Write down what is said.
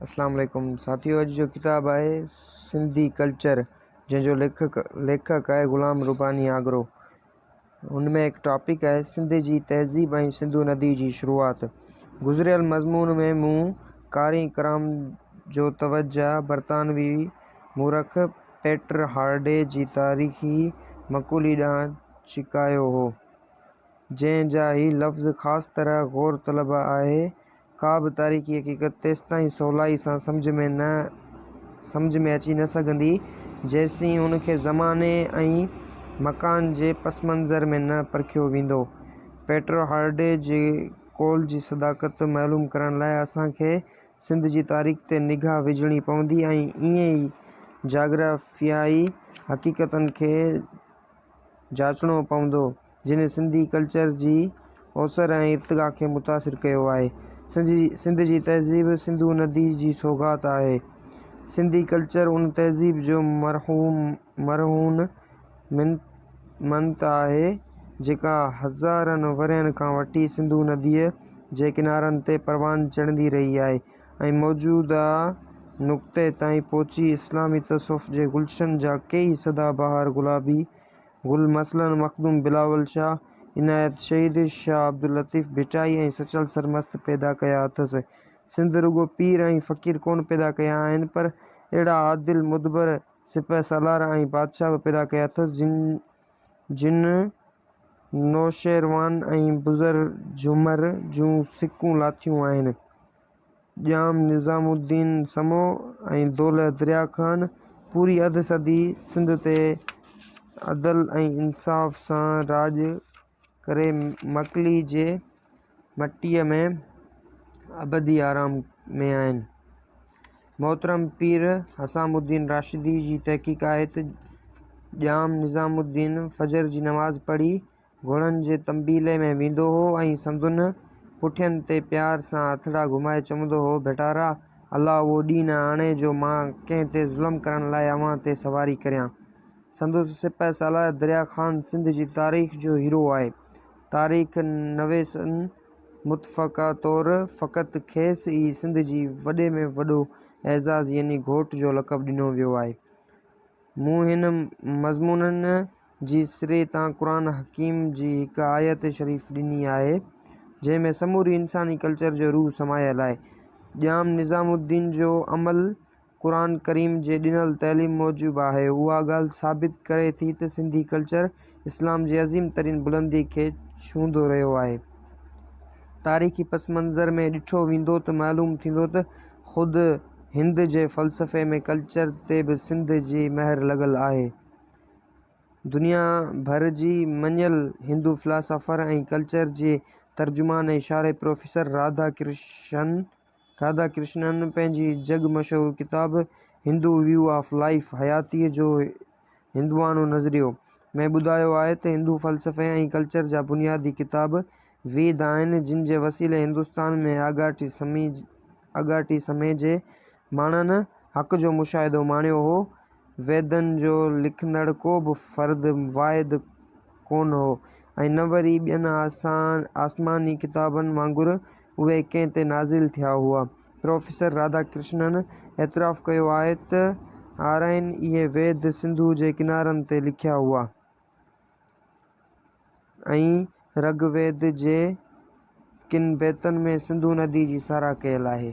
اسلام عليڪم ساٿيو اڄ جو ڪتاب آهي سنڌي ڪلچر جنهن جو ليکڪ ليکڪ آهي غلام رباني آگرو ان ۾ هڪ ٽاپڪ آهي سنڌ جي تهذيب ۽ سنڌو ندي جي شروعات گذريل مضمون ۾ مون قارئ ڪرام جو توجه برطانوي مورخ پيٽر هارڊي جي تاريخي مقولي ڏانهن ڇڪايو هو جنهن جا هي لفظ خاص طرح غور طلب آهي ڪا به تاريخي حقيقت تيستائين سولائي سان سمجهه ۾ نه سمجهه ۾ اچي نه سگهندي، جيسين ان کي زماني ۽ مڪان جي پسمنظر ۾ نه پرکيو ويندو. پيٽر هارڊي جي قول جي صداقت معلوم ڪرڻ لاء اسان کي سنڌ جي تاريخ تي نگاهه وجهڻي پوندي ۽ ائين ئي جاگرافيائي حقيقتن کي جاچڻو پوندو. جنھن سنڌي ڪلچر جي اوسر ۽ ارتقا کي متاثر ڪيو آھي. سنڌ جي تهذيب سنڌو ندي جي سوغات آھي. سنڌي ڪلچر ان تهذيب جو مرهون منت آھي جيڪا هزارن ورهين کان وٺي سنڌو نديء جي ڪنارن تي پروان چڙهندي رهي آھي ۽ موجوده نقطي تائين پهچي اسلامي تصوف جي گلشن جا ڪيئي سدا بهار گلابي گل مثلاً مخدوم بلاول شاهه، عنايت شهيد، شاهه عبداللطيف ڀٽائي ۽ سچل سرمست پيدا ڪيا اٿس. سنڌ رڳو پير ۽ فقير ڪونه پيدا ڪيا آهن پر اهڙا عادل، مدبر، سپهه سالار ۽ بادشاهه به پيدا ڪيا اٿس جن جن نوشيروان ۽ بزرجمر جون سڪون لاٿيون آهن. ڄام نظام الدين سمو ۽ دولهه دريا خان پوري اڌ صدي سنڌ تي عدل ۽ انصاف سان راڄ ڪري مڪلي جي مٽيء ۾ ابدي آرام ۾ آهن. محترم پير حسام الدين راشدي جي تحقيق آهي ته ڄام نظام الدين فجر جي نماز پڙهي، گهوڙن جي تنبيلي ۾ ويندو هو ۽ سندن پٺين تي پيار سان هٿڙا گهمائي چوندو هو، ڀٽارا! الله اهو ڏينهن نه آڻي جو مان ڪنهن تي ظلم ڪرڻ لاء اوهان تي سواري ڪريان. سندس سپهه سالار دريا خان سنڌ جي تاريخ جو هيرو آهي. تاريخ نويسن متفقه طور فقط کيس ئي سنڌ جي وڏي ۾ وڏو اعزاز يعني گهوٽ جو لقب ڏنو ويو آهي. مون هن مضمونن جي سري تان قرآن حڪيم جي هڪ آيت شريف ڏني آهي، جنهن ۾ سموري انساني ڪلچر جو روح سمايل آهي. ڄام نظام الدين جو عمل قرآن ڪريم جي ڏنل تعليم موجب آهي، اها ڳالهه ثابت ڪري ٿي ته سنڌي ڪلچر اسلام جي عظيم ترين بلندي کي ڇهندو رهيو آهي. تاريخي پس منظر ۾ ڏٺو ويندو ته معلوم ٿيندو ته خود هند جي فلسفي ۾ ڪلچر تي به سنڌ جي مهر لڳل آهي. دنيا ڀر جي مڃيل هندو فلاسافر ۽ ڪلچر جي ترجمان ۽ شارح پروفيسر راڌا ڪرشن راڌا ڪرشنن پنهنجي جڳ مشهور ڪتاب هندو ويو آف لائيف، حياتيء جو هندوانو نظريو، ۾ ٻڌايو آهي ته هندو فلسفي ۽ ڪلچر جا بنيادي ڪتاب ويد آهن، جن جي وسيلي هندستان ۾ آڳاٽي سمي آڳاٽي سمي جي ماڻهن حق جو مشاهدو ماڻيو هو ويدن جو لکندڙ ڪو به فرد واحد ڪونه هو ۽ نه وري ٻين آسماني ڪتابن وانگر اهي ڪنهن تي نازل ٿيا هئا. پروفيسر راڌا ڪرشنن اعتراف ڪيو آهي ته آرائين اهي ويد سنڌوء جي ڪنارن تي لکيا هئا. ۽ رگ ويد جي ڪن بيتن ۾ سنڌو ندي جي ساراهه ڪيل آهي.